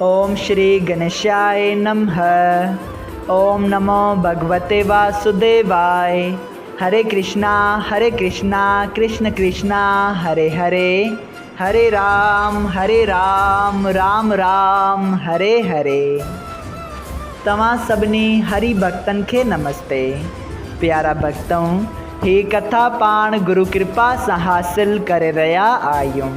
اوم شري گنيشائي نمه اوم نمو ڀڳوتي واسوديواء هري ڪرشنا هري ڪرشنا ڪرشن ڪرشنا هري هري هري رام هري رام رام رام هري هري توهان سڀني هري ڀڳتن کي نمستي پيارا ڀڳتؤ هي ڪٿا پاڻ گرو ڪرپا سان حاصل ڪري رهيا آهيون.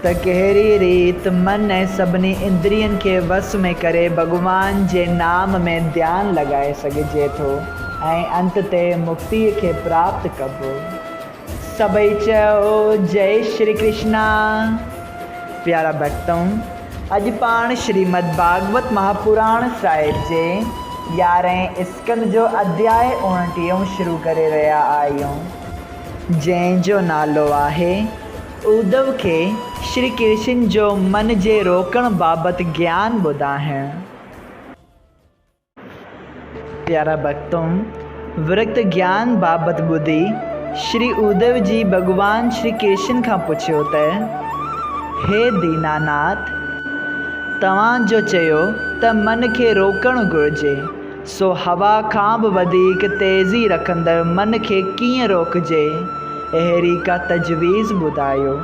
ته ڪهڙي ريت من ۽ سڀني اندرين کي وس ۾ ڪري ڀڳوان جي نام ۾ ڌيان لڳائي سگهجي ٿو ۽ انت تي مڪتيء کي پراپت ڪبو. سڀئي چئو جئي شري ڪرشنا. پيارا ڀڳتؤن! اڄ پاڻ شريمد ڀاڳوت مهاپراڻ صاحب جي يارهين اسڪند جو اڌياء اوڻٽيهون شروع ڪري رهيا آهيون، جنهن جو نالو آهي. اڌو کي شري ڪرشن جو من جي روڪڻ بابت گيان ٻڌائڻ. پيارا ڀڳتو! ورڪت گيان بابت ٻڌي شري اڌو جي ڀڳوان شري ڪرشن کان پڇيو ته، هي ديناناٿ! توهان جو چيو ته من کي روڪڻ گهرجي. سو هوا کان به وڌيڪ تيزي رکندڙ من کي ڪيئن روڪجي؟ اهڙي ڪا تجويز ٻڌايو.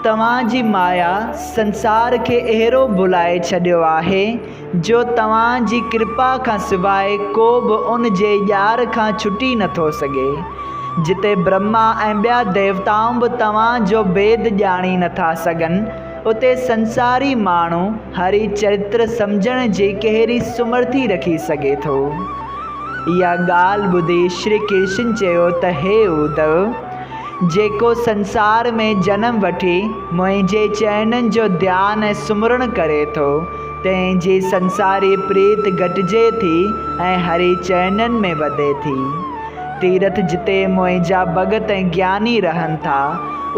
توهان جي مايا سنسار کي اهڙو ڀلائي ڇڏيو آهي جو توهان جي ڪرپا کان سواء ڪو به ان جي ڄار کان ڇٽي نه ٿو سگهي. جتي برهما ۽ ٻيا ديوتائون به توهان جو ڀيد ڄاڻي نه ٿا سگهن، اتي سنساري ماڻهو هري چرتر سمجهڻ جي ڪهڙي سمرٿي رکي سگهي ٿو؟ اها ڳالهه ٻڌي شري ڪرشن چيو ته هي اڌو، جيڪو سنسار ۾ جنم وٺي منهنجي چئنن جو ڌيان ۽ سمرڻ ڪري ٿو، تنهن جي سنساري پريت گهٽجي ٿي ۽ هري چئنن ۾ وڌي ٿي. تيرٿ جتي منهنجا ڀڳت ۽ گياني رهن ٿا،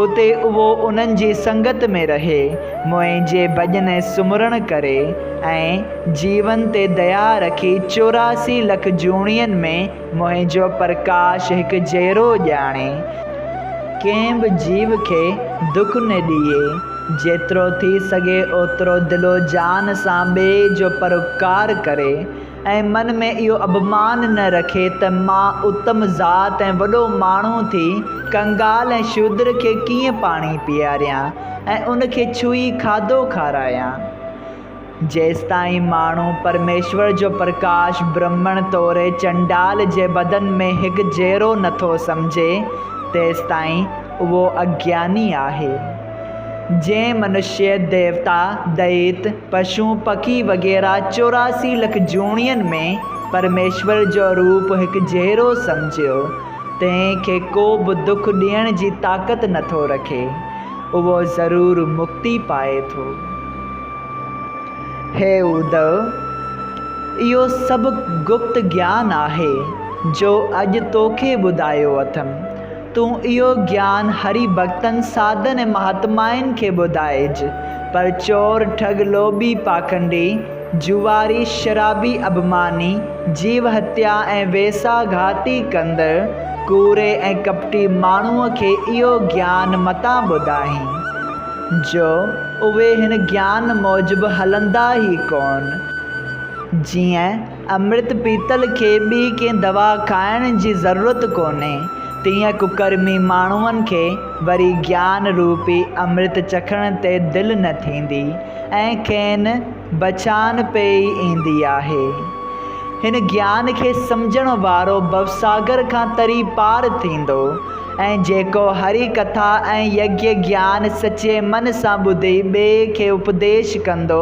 اتي اهو انهن جي سنگت ۾ رهي، منهنجي ڀڄن ۽ سمرڻ ڪري ۽ جيون تي ديا رکي چوراسي لک جوڻين ۾ منهنجو پرڪاش هڪ جهرو ڄاڻي، ڪنهن به جيو کي دک نه ڏئي، جيترو ٿي سگهي اوترو دل و جان سان ٻئي جو پروپڪار ڪري، ۽ من ۾ اهو اڀمان نه رکي ته مان اتم ذات ۽ وڏو ماڻهو ٿي ڪنگال ۽ شودر کي ڪيئن پاڻي پياريان ۽ ان کي ڇهي کاڌو کارايان. جيستائين ماڻهو پرميشور جو پرڪاش برهمڻ توري چنڊال جي بدن ۾ هڪجهڙو نٿو سمجهي، تيستائين اهو اگياني آهي. جنهن منشيه، ديوتا، دئيت، پشون، پکي وغيره چوراسي لک جوڻين ۾ پرميشور جو روپ هڪ جهڙو سمجهيو، تنهن کي ڪو به دک ڏيڻ جي طاقت نه ٿو رکي، اهو ضرور مڪتي پائي ٿو. هي اڌو! اهو سڀ گپت گيان آهي، جو اڄ توکي ٻڌايو اٿم. تون اهو گيان هري ڀڳتن ساڌن ۽ مهاتمائن کي ٻڌائج، پر چور، ٺڳ، لوڀي، پاکنڊي، جوئاري، شرابي، اڀماني، جيو هتيا ۽ ويساهه گهاتي ڪندڙ، ڪوڙي ۽ ڪپٽي ماڻهوء کي اهو گيان متان ٻڌائين، جو اهي هن گيان موجب هلندا ئي ڪونه، جيئن. امرت پيتل کي ٻي ڪنهن دوا کائڻ جي ضرورت ڪونهي، تيئن ڪڪرمي ماڻهن کي وري گيان روپي امرت چکڻ تي دل نه ٿيندي ۽ کين بڇان پئي ايندي آهي. هن گيان کي سمجهڻ وارو ڀوساگر کان تري پار ٿيندو ۽ جيڪو هري ڪٿا ۽ يگيا گيان سچي من سان ٻڌي ٻئي کي اپديش ڪندو،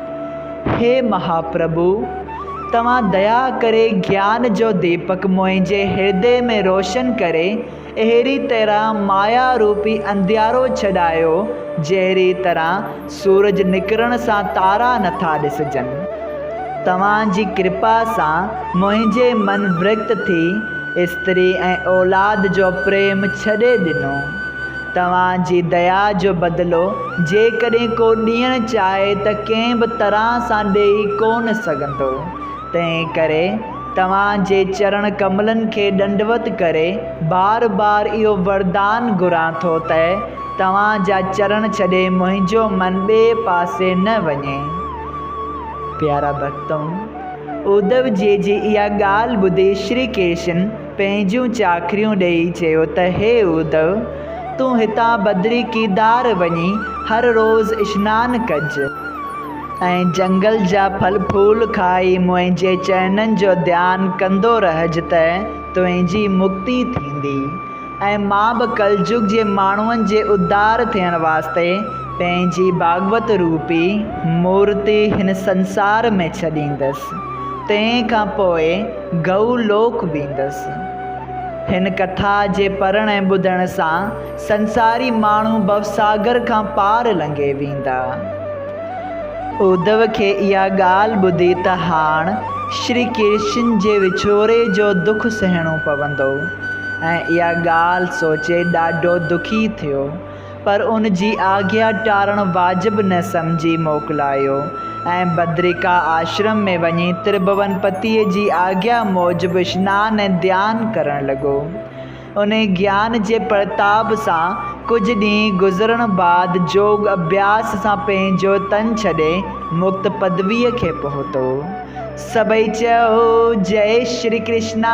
هي مهاپرڀو! توهان ديا ڪري گيان جو ديپڪ منهنجي هردي ۾ روشن ڪري اهڙي طرح مايا روپي انڌيارو ڇڏايو، جهڙي طرح سورج نڪرڻ سان تارا نٿا ڏسجن. توهان جي ڪرپا سان منهنجي من ورڪت ٿي، استري ۽ اولاد جو پريم ڇڏي ڏنو. توهان جي ديا جو بدلو جيڪڏهن ڪو ڏيڻ چاهي ته ڪنهن به طرح سان ڏيئي ڪو نه سگهندو، تنهن ڪري توهان جي چرڻ ڪملن کي ڏنڊوت ڪري بار بار اهو وردان گهران ٿو ته توهان جا چرڻ ڇڏي منهنجو من ٻئي پاسي نه وڃي. پيارا ڀڳتؤ! اوڌو جيء جي اها ڳالهه ٻڌي شري ڪرشن، پنهنجيون چاڪريون ڏيئي چيو ته هي اودئو! تون هتان بدري ڪيدار وڃي هر روز اشنان ڪج ۽ جهنگل جا ڦل ڦول کائي منهنجي چئنن جو ڌيان ڪندو رهج ته تنهنجي مڪتي ٿيندي ۽ مان به ڪلجگ جي ماڻهن جي اڌار ٿيڻ واسطي پنهنجي ڀاڳوت روپي مورتي هن سنسار ۾ ڇڏيندس. تنهن کان پوء گئو لوڪ ويندس. هن ڪٿا جي پڙهڻ ۽ ٻڌڻ سان سنساري ماڻهو ڀوساگر کان پار لنگهي ويندا. اڌو کي اها ڳالهه ٻڌي ته هاڻ شري ڪرشن جي وڇوڙي جو دک سهڻو پوندو ۽ اها ڳالهه سوچي ڏاڍو دکي ٿيو. پر ان جي آگيا ٽارڻ واجب نه سمجهي موڪلايو ۽ بدريڪا آشرم ۾ وڃي ترڀون پتيء جي آگيا موجب شنان ۽ ڌيان ڪرڻ لڳو. انهي گيان جي پرتاب سان ڪجهه ڏينهن گذرڻ بعد جوڳ اڀياس سان پنهنجو تن ڇڏي مڪت پدويء کي پهتو. سڀئي چئو، جئي شري ڪرشنا!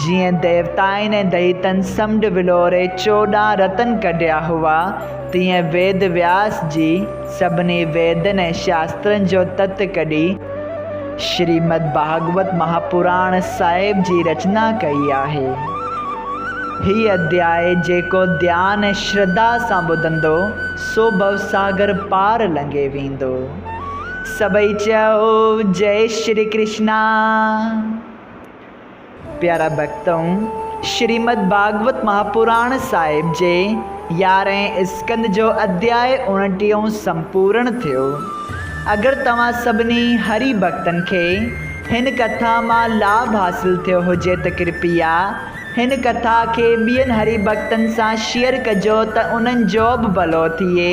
جيئن ديوتائن ۽ دئيتن سمنڊ ولوري چوڏهن رتن ڪڍيا هئا، تيئن ويد وياس جي سڀني ويدن ۽ شاسترن جو تت ڪڍي، شريمد ڀاڳوت مهاپراڻ صاحب جي رچنا ڪئي آهي. هي اڌياء جيڪو ڌيان ۽ شرڌا سان ٻڌندو، سو ڀوساگر پار لنگهي ويندو. سڀئي چئو، جئي شري ڪرشنا! پيارا ڀڳتؤ! شريمد ڀاڳوت مهاپراڻ صاحب جي يارهين اسڪند جو اڌياء اوڻٽيهون سمپورڻ ٿيو. اگر توهان سڀني هري ڀڳتن کي هن ڪٿا مان لاڀ حاصل ٿيو هجي ته ڪرپيا هن ڪٿا کي ٻين هري ڀڳتن سان شيئر ڪجو ته انهن جو به ڀلو ٿئي.